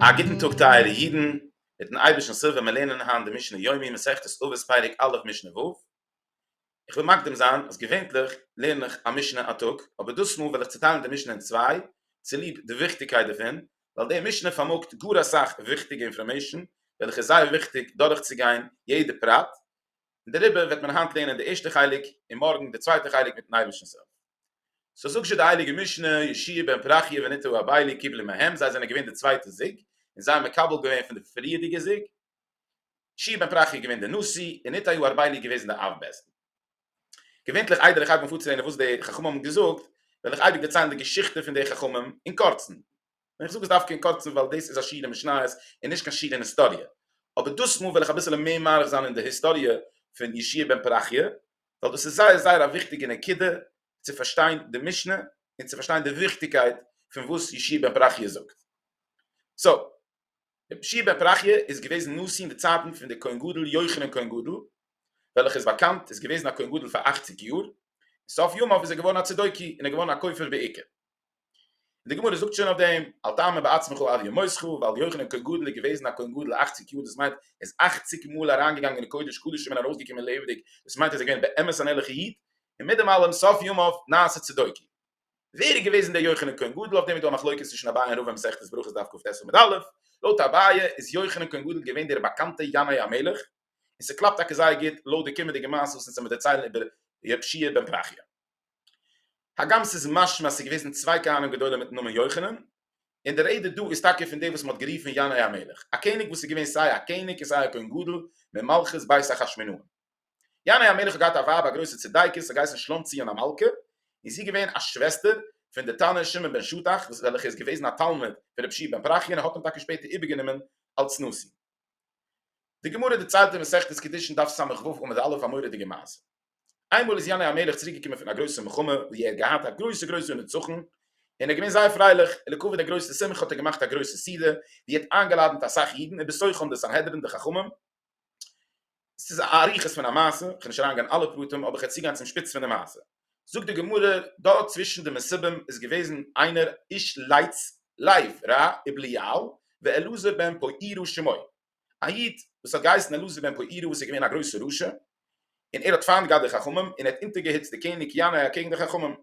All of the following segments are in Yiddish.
א גוטן טאג טייערע אידן, מיטן אייבערשטנ'ס הילף וועלמיר לערנען היינט די משנה יומי, מסכת אבות פרק א' משנה ו'. איך וויל מקדים זיין אז געווענליך לערן איך א משנה א טאג, אבער דאס מאל וועל איך צוטיילן די משנה אין צוויי, צוליב די וויכטיגקייט דערפון, ווייל די משנה פארמאגט גאר אסאך וויכטיגע אינפארמעישן וועלכע איז זייער וויכטיג דורכצוגיין יעדע פרט, און דעריבער וועט מען היינט לערנען די ערשטע חלק און מארגן די צווייטע חלק מיטן אייבערשטנ'ס הילף. סאו זאגזשע די הייליגע משנה ישעי' בן פרחיה ונטעו הבעלי קיבלו מהם זיי זענען געווען די צווייטע זוג און זיי האבן מקבל געווען פון די פריערדיגע זוג ישעי' בן פרחיה געווען די נשיא און נטעו הבעלי געוועזן די אב בית דין. געווענטליך איידער איך הייב אן פארצילענען וואס די חכמים האבן געזאגט וועל איך אייביג דערציילן די געשיכטע פון די חכמים אין קורצן. און איך זאג עס דווקא אין קורצן ווייל דאס איז א שיעור אין משניות און נישט קיין שיעור אין היסטאריע, אבער דאס מאל וועל איך אביסעלע מער מאריך זיין אין די היסטאריע פון ישעי' בן פרחיה, ווייל דאס איז זייער זייער א וויכטיגע נקודה צו פארשטיין די משנה און צו פארשטיין די וויכטיגקייט פון וואס ישעי' בן פרחיה זאגט. סאו, ישעי' בן פרחיה איז געוועזן נשיא אין די צייטן פון די כהן גדול יוחנן כהן גדול, וועלכע איז באקאנט איז געוועזן א כהן גדול פאר אכציג יאר, און סוף ימיו איז ער געווארן א צדוקי און איז געווארן א כופר בעיקר. און די גמרא זאגט שוין אויף דעם אל תאמר בעצמך אל ימותך ווייל יוחנן כהן גדול איז געוועזן א כהן גדול אַכציק יאר דאס מיינט ער איז אַכציק מאל אריינגעגאנגען אין קודש קדשים און ארויסגעקומען לעבעדיג דאס מיינט ער איז געווען באמת אן ערליכע איד און מיט דעם אלעם סוף ימיו נעשה צדקי. ווער איז געוועזן דער יוחנן כהן גדול אויף דעם איז דא א מחלוקת צווישן אביי און רבא אין מסכת ברכות דף קט עמוד א', לויט אביי איז יוחנן כהן גדול געווען דער באקאנטע ינאי המלך און ס'קלאפט טאקע זייער גוט לויט די קומענדיגע מעשה וואס אונז עמיר דערציילן איבער רב שיע בן פרחיה. הגם ס'איז משמע אז ס'איז געוועזן צוויי כהנים גדולים מיטן נאמען יוחנן, און די רעדע דא איז טאקע פון דעם וואס מ'האט גערופן ינאי המלך, א קעניג וואס איז געווען סיי א קעניג און סיי א כהן גדול ממלכות בית אחשמנאון. ינאי המלך האט געהאט א ווייב א גרויסע צדיקת, ס'האט געהייסן שלומציון המלכה, און זי איז געווען א שוועסטער פון דער תנא שמעון בן שטח וועלכער איז געוועזן א תלמיד פון רב שי' בן פרחיה און האט אים טאקע שפעטער איבערגענומען אלס נשיא. די גמרא דערציילט אין מסכת קידושין דף סמ ו עמוד א' א מורא'דיגע מעשה. איינמאל איז ינאי המלך צוריק געקומען פון א גרויסע מלחמה וואו ער האט געהאט א גרויסע גרויסע נצחון, און ער איז געווען זייער פרייליך, און לכבוד די גרויסע שמחה האט ער געמאכט א גרויסע סעודה, וואו ער האט איינגעלאדענט אסאך אידן, ובתוכם די סנהדרין די חכמים, ס'איז א אריכות פון א מעשה, איך וועל נישט אריין גיין אין אלע פרטים אבער איך וועל צוגיין צום שפיץ פון די מעשה. זאגט די גמרא, דארט צווישן די מסובים איז געוועזן איינער איש לייטס לייב ר' איבליהו ואלעזר בן פויערא שמו, א איד וואס האט געהייסן אלעזר בן פויערא וואס איז געווען א גרויסער רשע, און ער האט פיינט געהאט די חכמים און ער האט אונטערגעהיצט די קעניג ינאי אקעגן די חכמים.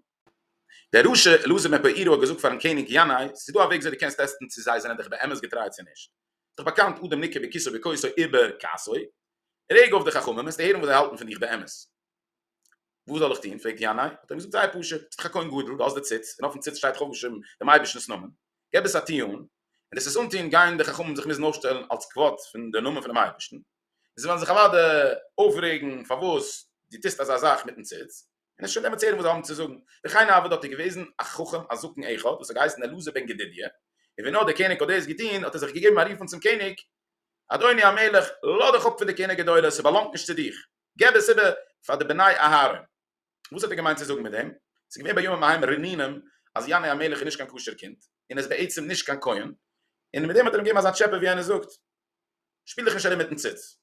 דער רשע אלעזר מפאירא האט געזאגט פארן קעניג ינאי, ס'איז דא א וועג וויאזוי דו קענסט טעסטן צו זיי זענען דיך באמת געטריי צו נישט. איז דאך באקאנט אדם ניקר בכיסו בכוסו איבער כסאו. רעג אויף די חכמים וועסטו הערן וואס זיי האלטן פון דיך באמת. וואס זאל איך טון? פרעגט ינאי, האט ער אים געזאגט זייער פשוט, ביסט דאך א כהן גדול, דו האסט די ציץ, און אויפן ציץ שטייט חו ושם דעם אייבערשטנ'ס נאמען, געב עס א טו אן, און דאס עס אנטון גייען די חכמים זיך מוזן אויפשטעלן אלס כבוד פון די נאמען פונעם אייבערשטן, און זיי וועלן זיך אוודאי אויפרעגן פארוואס דו טוסט אזא זאך מיטן ציץ. און עס שוין עמעצער וואס זיי האבן צו זאגן, וכן הוה דארט איז געוועזן א חכם א זקן אחד וואס האט געהייסן אלעזר בן גדדיה, און ווען נאר דער קעניג האט דאס געטון האט ער זיך געגעבן א רופן צום קעניג, אדוני המלך לאז דיך אפ פון די כהונה גדולה ס'באלאנגט נישט צו דיך, געב עס איבער פאר די בני אהרן. וואס האט ער געמיינט צו זאגן מיט דעם? ס'איז געווען בימים ההם רעננים אז יענער המלך איז נישט קיין כשר קינד, און איז בעצם נישט קיין כהן, און מיט דעם האט ער אים געגעבן אזא טשעפע ווי איינער זאגט שפיל דיך נישט ארום מיטן ציץ.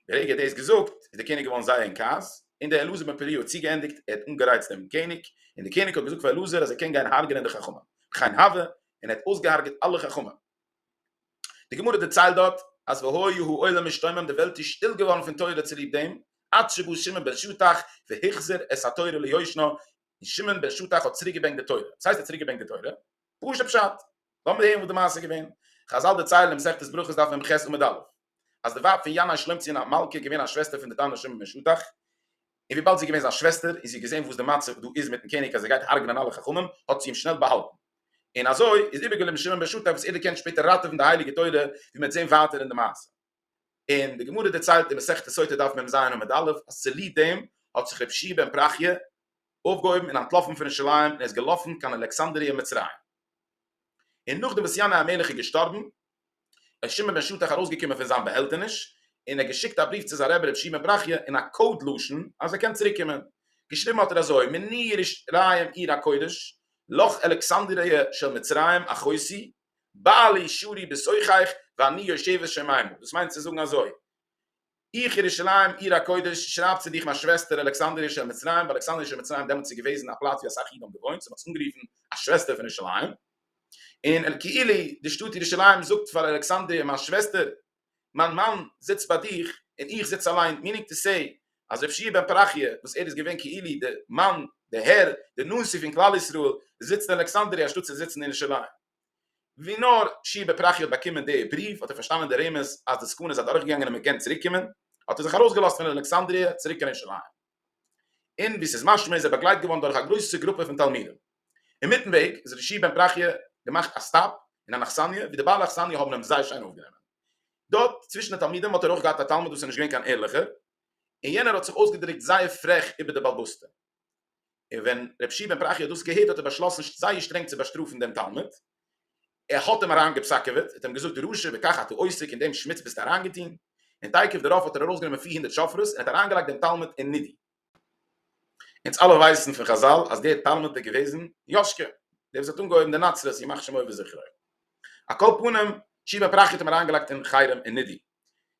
ברגע ער האט דאס געזאגט איז דער קעניג געווארן זייער אין כעס, און דער אלעזר בן פריה האט צוגעענדיגט, ער האט אנגערייצט דעם קעניג, און דער קעניג האט געזאגט פאר אלעזר אז ער קען גיין הרג'ענען די חכמים, וכן הוה, און ער האט אויסגעהרג'עט אלע חכמים. די גמרא דערציילט דארט אז והיה העולם משתומם, די וועלט איז שטיל געווארן פון תורה צוליב דעם, עד שבא שמעון בן שטח והחזיר את התורה ליושנה, און שמעון בן שטח האט צוריק געברענגט די תורה, וואס הייסט ער האט צוריק געברענגט די תורה? פשוט פשט. לאמיר הערן וואס די מעשה איז געווען. חזל דערציילן אין מסכת ברכות דף מ ח עמוד א', אז די ווייב פון ינאי שלומצין א מלכה איז געווען א שוועסטער פון די תנא שמעון בן שטח, און וויבאלד זי איז געווען זיין שוועסטער און זי האט געזען וואס די מצב דא איז מיטן קעניג אז ער גייט הרג'נען אלע חכמים, האט זי אים שנעל באהאלטן. און אזוי איז איבערגעליבן שמעון בן שטח וואס ער דערקענט שפעטער ראטעווען די הייליגע תורה, ווי מען וועט זען ווייטער אין די מעשה. און די גמרא דערציילט אין מסכת סוטה דף מ ז עמוד א' אז צוליב דעם האט זיך רבי שי' בן פרחיה אויפגעהויבן און אנטלאפן פון ירושלים און איז געלאפן קיין אלכסנדריה מצרים און נאכדעם וואס ינאי המלך איז געשטארבן איז שמעון בן שטח ארויסגעקומען פון זיין באהעלטעניש און ער האט געשיקט א בריוו צו זיין רבי רבי שי' בן פרחיה אין א קאוד לשון אז ער קען צוריקקומען געשריבן האט ער אזוי מני ירושלים עיר הקודש לך אלכסנדריה של מצרים אחותי בעלי שורי בסוחייך ואני יושבת שמימה, דאס מיינט צו זאגן אזוי, איך ירושלים עיר הקודש שרייב צו דיך מיין שוועסטער אלכסנדריה של מצרים, וואס אלכסנדריה של מצרים דעמאלטס איז געוועזן א פלאץ ווי אסאך אידן האבן געוואוינט, סאו מען האט עס אנגערופן א שוועסטער פון ירושלים, און כאילו די שטאט ירושלים זאגט פאר אלכסנדריה מיין שוועסטער, מיין מאן זיצט ביי דיך און איך זיץ אליין, מיענינג טו סעי אז רב שיע בן פרחיה וואס ער איז געווען כאילו די מאן, די הער, די נשיא פון כלל ישראל זיצט אין אלעקסאנדריה אנשטאט צו זיצן אין ירושלים. ווי נאר שיע בן פרחיה האט באקומען די בריוו האט ער פארשטאנען די רמז אז די סכנה איז אדורכגעגאנגען און מען קען צוריקקומען, האט ער זיך ארויסגעלאזט פון אלעקסאנדריה צוריק קיין ירושלים. און ווי ס'איז משמע איז ער באגלייט געווארן דורך א גרויסע גרופע פון תלמידים. אינמיטן וועג איז ר' בן פרחיה געמאכט א סטאפ אין אן אכסניא ווי די בעלי אכסניא האבן אים זייער שיין אויפגענומען. דארט צווישן די תלמידים האט ער אויך געהאט א תלמיד וואס איז נישט געווען קיין ערליכער און יענער האט זיך אויסגעדרוקט זייער פרעך איבער די בעלבאסטע. און ווען ר' בן פרחיה האט דאס געהערט האט ער באשלאסן זייער שטרענג צו באשטראפן דעם תלמיד ער האט אים אריין געפסקעוועט, האט אים געזאגט רשע בכך אתה עוסק אין דעם שמוץ ביסטו אריין געטוהן, און תיכף דערויף האט ער ארויס גענומען פֿיר הונדערט שופרות און האט אריין געלייגט דעם תלמוד אין נידוי. אונז אלע ווייסן פון חזל אז דער תלמוד איז געוועזן יאשקע דער וואס האט אנגעהויבן די נצרות ימח שמו וזכרו. על כל פנים שיבען פרחי האט אים אריין געלייגט אין חרם און נידוי,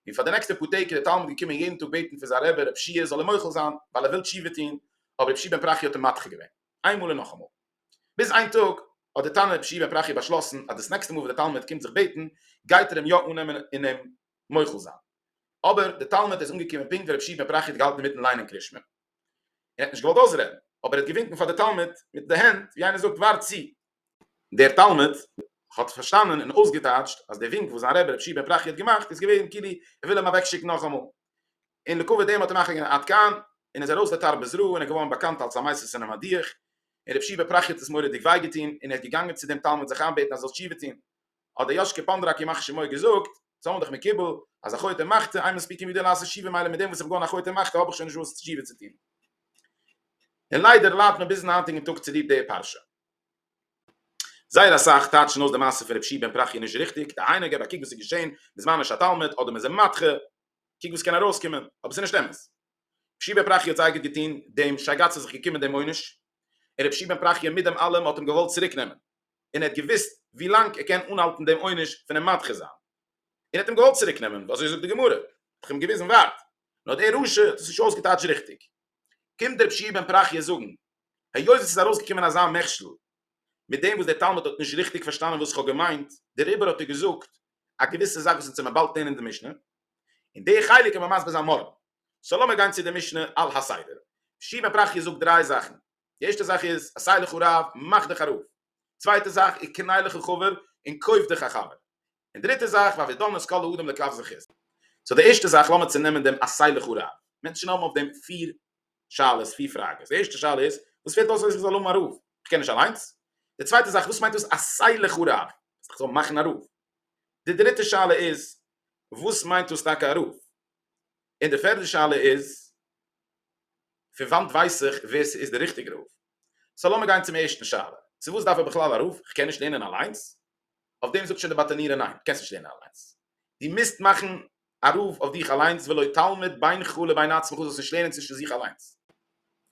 און פאר די נעקסטע פאר טעג איז דער תלמוד געקומען יעדן טאג בעטן פון זיין רבי רב שיע זאל אים מוחל זיין ווייל ער וויל תשובה טוהן, אבער רבי שיבען פרחי האט אים מדחה געווען איינמאל און נאכאמאל. ביז איין טאג האט די תנא רבי שמעון פרחי באשלאסן אז דאס נעקסטע מאל וואס דער תלמיד קומט זיך בעטן גייט ער אים יא אננעמען און אים מוחל זיין. אבער דער תלמיד איז אנגעקומען פונקט ווען רבי שמעון פרחי האט געהאלטן אינמיטן ליינען קרית שמע און ער האט נישט געוואלט אויסרעדן אבער ער האט געווינקן פאר די תלמיד מיט די הענט ווי איינער זאגט ווארט צו. דער תלמיד האט פארשטאנען און אויסגעטייטשט אז דער ווינק וואס זיין רבי רבי שמעון פרחי האט געמאכט איז געווען כאילו ער וויל אים אוועקשיקן נאכאמאל און לכּבֿוד דעם האָט ער נאַכגעגעבן עד כּאן, און איז אַרױס לתר בזרוע, און איז געװאָרן באַקאַנט אַלס אַ מײַסטער ס'אין אַ מדיח, און רב שיבֿע פּראַכיע האָט עס מוראדיק װײ געטאָן, און ער איז געגאַנגען צו דעם תּלמיד זיך אײַנבעטן, אַז ער זאָל תּשובֿה טאָן. האָט דער יאָשקע פּאָנדראַק, ימח-שמו, געזאָגט, זײַן אָן דיך מקובל, אַז אַ חוטא מחטא, אײן מספּיק אים װידער לעשות תּשובֿה, מילא מיט דעם, װאָס איך האָב געאָן אַ חוטא מחטא, האָב איך שױן נישט װאָס תּשובֿה צו טאָן. און לײַדער לײַדט מען ביזן הײַנטיקן טאָג צוליב דער פּרשה. זײער אַ סך טײַטשן אױס די מעשה פֿון רב שיבֿען פּראַכיע נישט ריכטיק, דהײַנו, גיב אַ קוק װאָס איז געשען בזמן אש התּלמיד, אָדער מע זאָל מאַטכע, קוק וואס קען ארויס קומען, אבער עס איז נישט אמת. ר'שי בן פרחיה האט זייער גוט געטון, דעם שייגאץ איז זיך געקומען דעם עונש, און ר'שי בן פרחיה מיט דעם אלעם האט אים געוואלט צוריק נעמען, און ער האט געוואוסט ווי לאנג ער קען אנהאלטן דעם עונש פון אים מדחה זיין, און האט אים געוואלט צוריק נעמען, אזוי זאגט די גמרא, האט איך אים געוויזן ווארט, נאר דער רשע האט עס נישט אויסגעטייטשט ריכטיג, קומט דער ר'שי בן פרחיה זאגן, היות עס איז ארויס געקומען אזא מכשול, מיט דעם וואס דער תלמיד האט נישט ריכטיג פארשטאנען וואס איך האב געמיינט, דעריבער האט ער געזאגט א געוויסע זאך וואס אונז האמיר באלד לערנען אין די משנה, און די חלק קען מען מסביר זיין מארגן, סאו לאמיר גיין צו די משנה על הסדר, שמעון פרחיה זאגט דריי זאכן, די ערשטע זאך איז עשה לך רב מאך דיך א רב, צווייטע זאך איז קנה לך חבר און קויף דיך א חבר, און דריטע זאך והווי דן את כל האדם לכף זכות, סאו די ערשטע זאך לאמיר צו נעמען דעם עשה לך רב, מענטשן האבן אויף דעם פיר שאלות, פיר פראגעס. די ערשטע שאלה איז, וואס פעלט אויס אז איך זאל האבן א רב? איך קען נישט אליינס? די צווייטע זאך, וואס מיינט דאס א סיילעך א רב? איך זאל מאכן א רב? די דריטע שאלה איז, וואס מיינט דאס טאקע א רב? און די פערדע שאלה איז, פון וואנט ווייס איך ווער ס'איז די ריכטיגע רב? סאו לאמיר גיין צום ערשטן שאלה, צו וואס דארף איך בכלל א רב? איך קען נישט לערנען אליינס? אויף דעם זאגט שוין די באטענירער ניין, דו קענסט נישט לערנען אליינס, דו מוזט מאכן א רב אויף דיך אליינס ולא תלמד בינך לבין עצמך, דו זאלסט נישט לערנען צווישן זיך אליינס.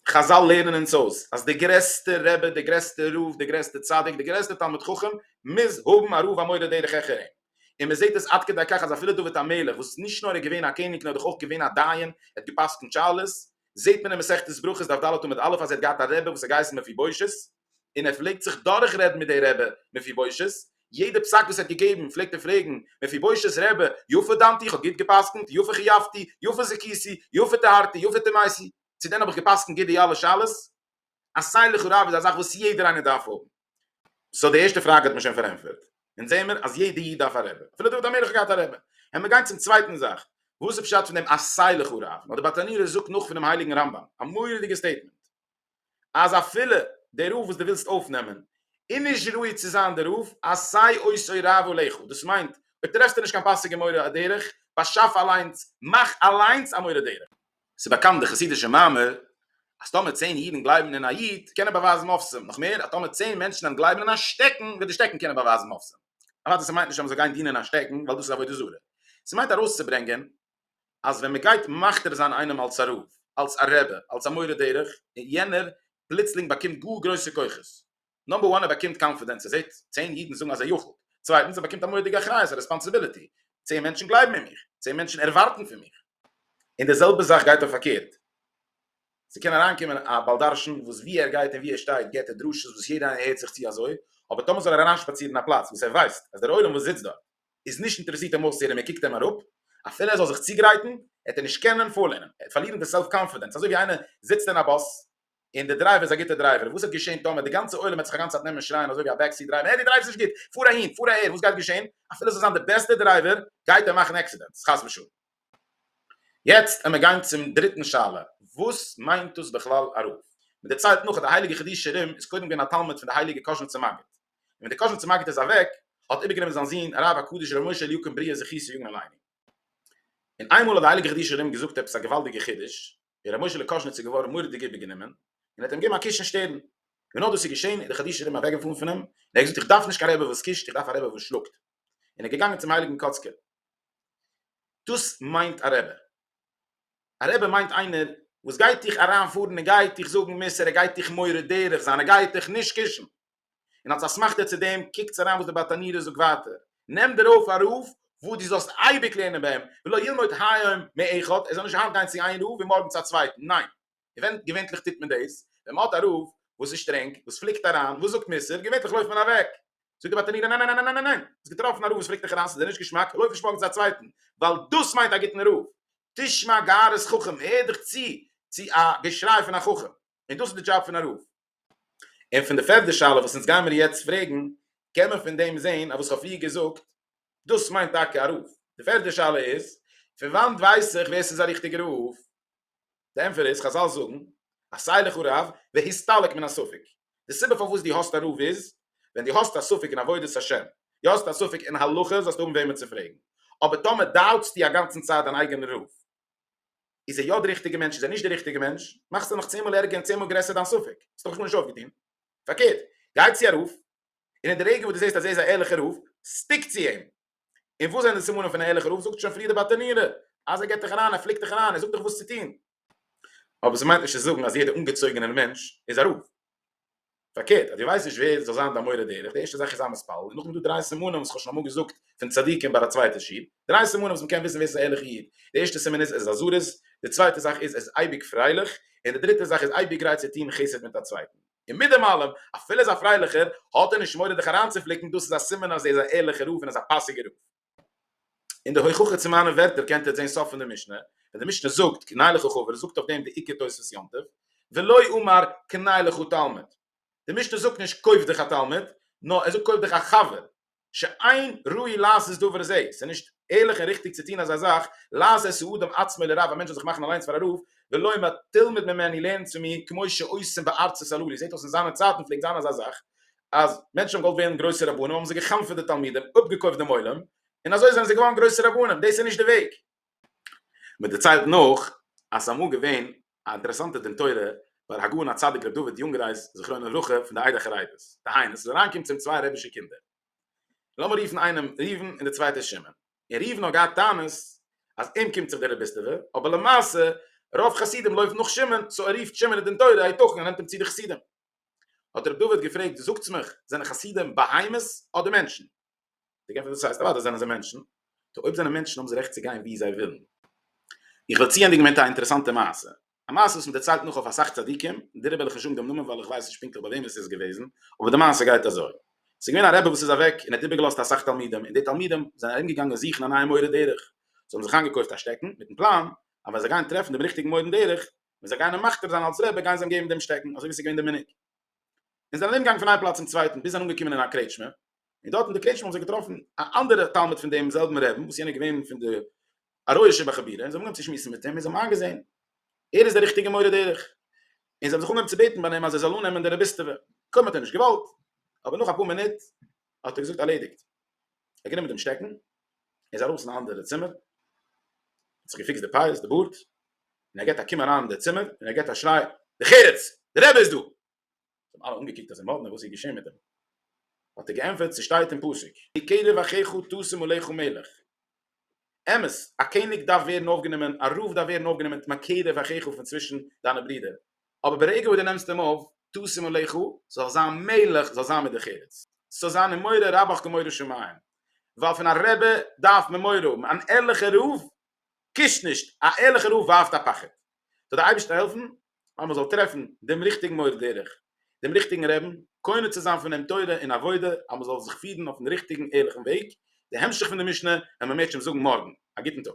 חזל לערנען אונז אויס אז דער גרעסטער רבי, דער גרעסטער רב, דער גרעסטער צדיק, דער גרעסטער תלמיד חכם מוז האבן א רב א מורה דרך העכער אים, און מען זעט עס עד כדי כך אז אפילו דוד המלך וואס נישט נאר איז געווען א קעניג נאר דאך אויך געווען א דיין, ער האט געפסקנט שאלות, זעט מען אין מסכת ברכות דף ד' עמוד א' אז ער האט געהאט א רבי וואס האט געהייסן מפיבושת, און ער פלעגט זיך דורכרעדן מיט די רבי מפיבושת, יעדע פסק וואס ער האט געגעבן פלעגט ער פרעגן מפיבושת'ס רבי, יפה דנתי, איך האב גוט גע'פסק'נט, יפה חייבתי, יפה זכיתי, יפה טהרתי, יפה טמאתי, צו דען האב איך גע'פסק'נט גוט די אלע שאלות? א סיילע חרב איז א זאך וואס יעדער איינער דארף האבן. סא די ערשטע פראגע האט מען שוין פארענטפערט. אונז זעהן מיר אז יעדע איד דארף א רבי. אפילו דוד המלך האט געהאט א רבי. העמיר גיין צום צווייטן זאך. וואס איז פשט פון דעם א סיילע חרב? נאר דער באטאנירער זאגט נאך פונעם הייליגן רמב ם א מורא'דיגע סטעיטמענט. אז אפילו דער רב וואס דו ווילסט אויפנעמען איז נישט ראוי צו זיין דער רב, אז סיי עושי רעבו לכו, דאס מיינט אויב טרעפסטו נישט קיין פאסיגע מורה דרך, באשאף אליינס, מאך אליינס א מורה דרך. ס'איז באקאנט די חסידישע מאמר, אז טאמער צען אידן גלייבן אין א איד, קען ער באווייזן מופתים, נאך מער, אז טאמער צען מענטשן וועלן גלייבן אין א שטעקן, וועט די שטעקן קענען באווייזן מופתים. אוודאי ס'מיינט נישט אז מ'זאל גיין דינען א שטעקן, ווייל דאס איז עבודה זרה. ס'מיינט ארויסצוברענגען אז ווען מ'גייט מכתיר זיין איינעם אלס א רב, אלס א רבי, אלס א מורה דרך, און יענער פלוצלינג באקומט גאר גרויסע כוחות. נאמבער וואן ער באקומט קאנפידענס, ער זעט צען אידן זאגן אז ער יכול'ט, צווייטנס ער באקומט א מורא'דיגע אחריות, א רעספאנסיביליטי, צען מענטשן גלייבן אין מיך, צען מענטשן ערווארטן פון מיך. און די זעלבע זאך גייט אויף פארקערט, ס'קען אריינקומען א בעל דרשן וואס ווי ער גייט און ווי ער שטייט געבט ער דרשות וואס יעדער איינער הערט זיך צו אזוי, אבער טאמער זאל ער אריינשפאצירן אין א פלאץ וואס ער ווייסט אז דער עולם וואס זיצט דארט איז נישט אינטערעסירט אים אויסצוהערן מען קוקט אים אראפ, אפילו ער זאל זיך צוגרייטן וועט ער נישט קענען פארלערנען, ער וועט פארלירן די סעלף קאנפידענס, אזוי ווי איינער זיצט אין א באס און די דרייווער איז א גוטער דרייווער, וואס וועט געשען טאמער די גאנצע עולם וועט זיך א גאנצע צייט נעמען שרייען אזוי ווי א בעק סיט דרייווער העי דו דרייווסט נישט גוט, פאר אהין, פאר אהער, וואס גייט געשען? אפילו עס זאל זיין די בעסטע דרייווער גייט ער מאכן עקסידענטס חס ושלום. יעצט עמער גיין צום דריטן שאלה, וואס מיינט דאס בכלל א רב? מען דערציילט נאך אז די הייליגע חידושי רימ איז קודם געווען א תלמיד פון די הייליגע קאזשניצער מגיד, און ווען די קאזין צומאגעט איז אוועק האט איבערגענומען זיין זון הרב הקדוש ר' משה אליקים בריעה זכי' צו יאגן א ליינונג און איינמאל האט די הייליגע חידושי רימון געזאגט עפעס א געוואלדיגע חידוש און ר' משה'לע קאזשניץ איז געווארן מורא'דיג איבערגענומען און האט אים געגעבן א קיש אין שטערן ווען נאר דאס איז געשען איז די חידושי רימון אוועקגעפארן פון אים און ער האט געזאגט איך דארף נישט קיין רבי וואס קישט איך דארף א רבי וואס שלאגט און ער איז געגאנגען צום הייליגן קאצקער דאס מיינט א רבי א רבי מיינט איינער וואס גייט דיך אריינפארן און גייט דיך זאגן מוסר ער גייט דיך מורה דרך זיין ער גייט דיך נישט קישן און אלס אסמכתא צו דעם, קוקטס אריין וואס די בת ענירה זאגט ווייטער, נעם דיר אויף א רב וואס דו זאלסט אייביג לערנען ביי אים, ולא ילמוד היום מאחד, ער זאל נישט היינט גיין צו איין רב און מארגן צו א צווייטן, ניין, געווען, געווענטליך טוט מען דאס, ווען מען האט א רב וואס איז שטרענג, וואס פליקט אריין, וואס זאגט מוסר, געווענטליך לויפט מען אוועק. זאגט די בת ענירה, ניין ניין ניין ניין ניין, האסט געטראפן א רב וואס פליקט דיך אריין, ס'איז דיר נישט געשמאק, לויף נישט מארגן צו א צווייטן, ווייל דאס מיינט א גוטן רב, תשמע גערעס חכם, הער דיך צו צו א געשריי פון א חכם, און דאס איז די דזשאב פון א רב. און פון די פערדע שאלה וואס אונז גיימיר יעצט פרעגן קען מען פון דעם זעהן אז וואס כ'האב פריער געזאגט דאס מיינט טאקע א רוף, די פערדע שאלה איז פון וואנט ווייס איך ווער ס'איז א ריכטיגע רוף? די ענפער איז חזל זאגן אז סיי לך רב והסתלק מן הספק, די סיבה פארוואס דו האסט א רוף איז ווען דו האסט א ספק אין עבודת השם, דו האסט א ספק אין הלכה זאלסטו האבן וועמען צו פרעגן, אבער טאמער דאוטסטו אגאנצן צייט דיין אייגענע רוף איז ער יא די ריכטיגע מענטש איז ער נישט די ריכטיגע מענטש, מאכסטו נאך צען מאל ערגער און צען מאל גרעסער דיין ספק, האסט דאך נאך נישט אויפגעטון, פארקערט גיי צו א רב און אין די רגע וואס דו זעסט אז ער איז א ערליכע רב סטיק צו אים, און וואס זענען די סימנים פון א ערליכע רב, זאגט שוין פריער די באטענירע אז ער געט דיך אריין ער פליקט דיך אריין ער זאגט דיך וואס צו טון, אבער ס'מיינט נישט צו זאגן אז יעדע אנגעצויגענער מענטש איז א רב, פארקערט אז דו ווייסט נישט ווער זאל זיין דיין מורה דרך, די ערשטע זאך איז זיין מתפלל, און נאכדעם איז דא דריי סימנים וואס כ'האב שוין אמאל געזאגט פון צדיקים ביי א צווייטע שיעור, דריי סימנים וואס מ'קען וויסן ווער ס'איז א ערליכע איד, די ערשטע סימן איז ער איז א זריז, די צווייטע זאך איז ער איז אייביג פרייליך, און די דריטע זאך איז אייביג גרייט צו טון חסד מיט א צווייטן. און מיט דעם אלעם, אפילו ער איז א פרייליכער, האט ער נישט מורא דיך אריינצופליקן, דאס איז א סימן אז ער איז א ערליכער רב און ער איז א פאסיגער רב. אין די הוכחה צו מיינע ווערטער קענט איר זען סוף פון די משנה, ווען די משנה זאגט קנאי לך חבר זאגט אויף דעם די עיקר תוספות יום טוב, ולא אמר קנאי לך תלמיד, די משנה זאגט נישט קויף דיך א תלמיד, נאר ער זאגט קויף דיך א חבר, שאין ראוי לעשות דבר זה, ס'איז נישט ערליך און ריכטיג צו טון אזא זאך, לעשות האדם עצמו לרב, א מענטש זאל זיך מאכן אליינס פאר א רב, ולא אמר תלמד ממני לערן צו מיר, כמו שעושים בארצות הללו, זעט אויס אין זיינע צייטן פלעגט זיין אזא זאך, אז מענטשן האבן געוואלט ווערן גרויסע רבנים האבן זיי גע'חנפ'עט די תלמידים, אפגעקויפט דעם עולם, און אזוי זענען זיי געווארן גרויסע רבנים, דאס איז נישט די וועג. מען דערציילט נאך אז ס'איז אמאל געווען א אינטערעסאנטע דין תורה ביי ר הגאון הצדיק ר' דוד יונגרייז זכרונו לברכה פון די עדה החרדית, דהיינו ס'איז אריינגעקומען צו אים צוויי רבי'שע קינדער, לאמיר רופן איינעם ראובן און די צווייטער שמעון, און ראובן האט געהאט טענות אז אים קומט זיך די רביסטעווע, אבער למעשה רוב חסידים לויפן נאך שמעון, סאו ער רופט שמעון אין דין תורה היתכן ער נעמט אים צו די חסידים. האט ר' דוד געפרעגט זאגטס מיך זענען חסידים בהמות אדער מענטשן? די געפער וואס הייסט אוודאי זענען זיי מענטשן טא אויב זענען מענטשן האבן זיי רעכט צו גיין ווי זיי ווילן. איך וועל צוענדיגן מיט א אינטערעסאנטע מעשה א מעשה וואס מען דערציילט נאך אויף אסאך צדיקים דעריבער וועל איך נישט זאגן דעם נאמען ווייל איך ווייס נישט פונקטליך ביי וועם עס איז געוועזן אבער די מעשה גייט אזוי ס'איז געווען א רבי וואס איז אוועק און ער האט איבערגעלאזט אסאך תלמידים און די תלמידים זענען ארום געגאנגען זוכן א נייע מורה דרך זיי האבן זיך איינגעקויפט א שטעקן מיטן פלאן אז ווען זיי גייען טרעפן דעם ריכטיגן מורן דרך ווען זיי גייען אים מכתיר זיין אלס רבי גייען זיי אים געבן דעם שטעקן אזוי ווי עס איז געווען די מנהג און זענען ארומגעגאנגען פון איין פלאץ צום צווייטן ביז זיי זענען אנגעקומען אין א קרעטשמע און דארט אין די קרעטשמע האבן זיי געטראפן א אנדערע תלמיד פון דעם זעלבן רעבן וואס יענער איז געווען פון די א רויע שבע חבירה און זיי האבן אנגעהויבן צו שמועסן מיט אים און זיי האבן איינגעזען ער איז דער ריכטיגער מורה דרך און זיי האבן זיך אנגעהויבן צו בעטן ביי אים אז ער זאל אננעמען די רביסטעווע קודם האט ער נישט געוואלט אבער נאך אפאר מינוט האט ער געזאגט ארלעדיגט ער האט גענומען דעם שטעקן ער איז ארויס אין א אנדערע צימער האט זיך געפיקסט די פאות די בארד און ער געט א קום אריין אין די צימער און ער געט א שריי די חירות די רבי איז דא זיי האבן אלע אנגעקוקט אזוי מאדנע וואס איז געשען מיט אים האט ער געענטפערט ס'שטייט אין פסוק די כלב אחיך תשם עליך מלך אמת, א קעניג דארף ווערן אויפגענומען, א רב דארף ווערן אויפגענומען מיט מקרב אחיך פון צווישן דיינע ברידער, אבער ברגע וואס דו נעמסט אים אויף, תשים עליך, זאל זיין מלך, זאל זיין מדרך ארץ, ס'זאל זיין אים מורא רבך כמורא שמים, ווייל פון א רבי דארף מען מורא האבן, אן ערליכער רב קושט נישט, א ערליכער רב ווארפט א פחד, זאל דער אייבערשטער העלפן אז מען זאל טרעפן דעם ריכטיגן מורה דרך, דעם ריכטיגן רעבן, קונה צו זיין פון אים תורה און עבודה, אז מען זאל זיך פירן אויפן ריכטיגן ערליכן וועג, די המשך פון די משנה ווען מען מעט שוין זאגן מארגן, א גוטן טאג.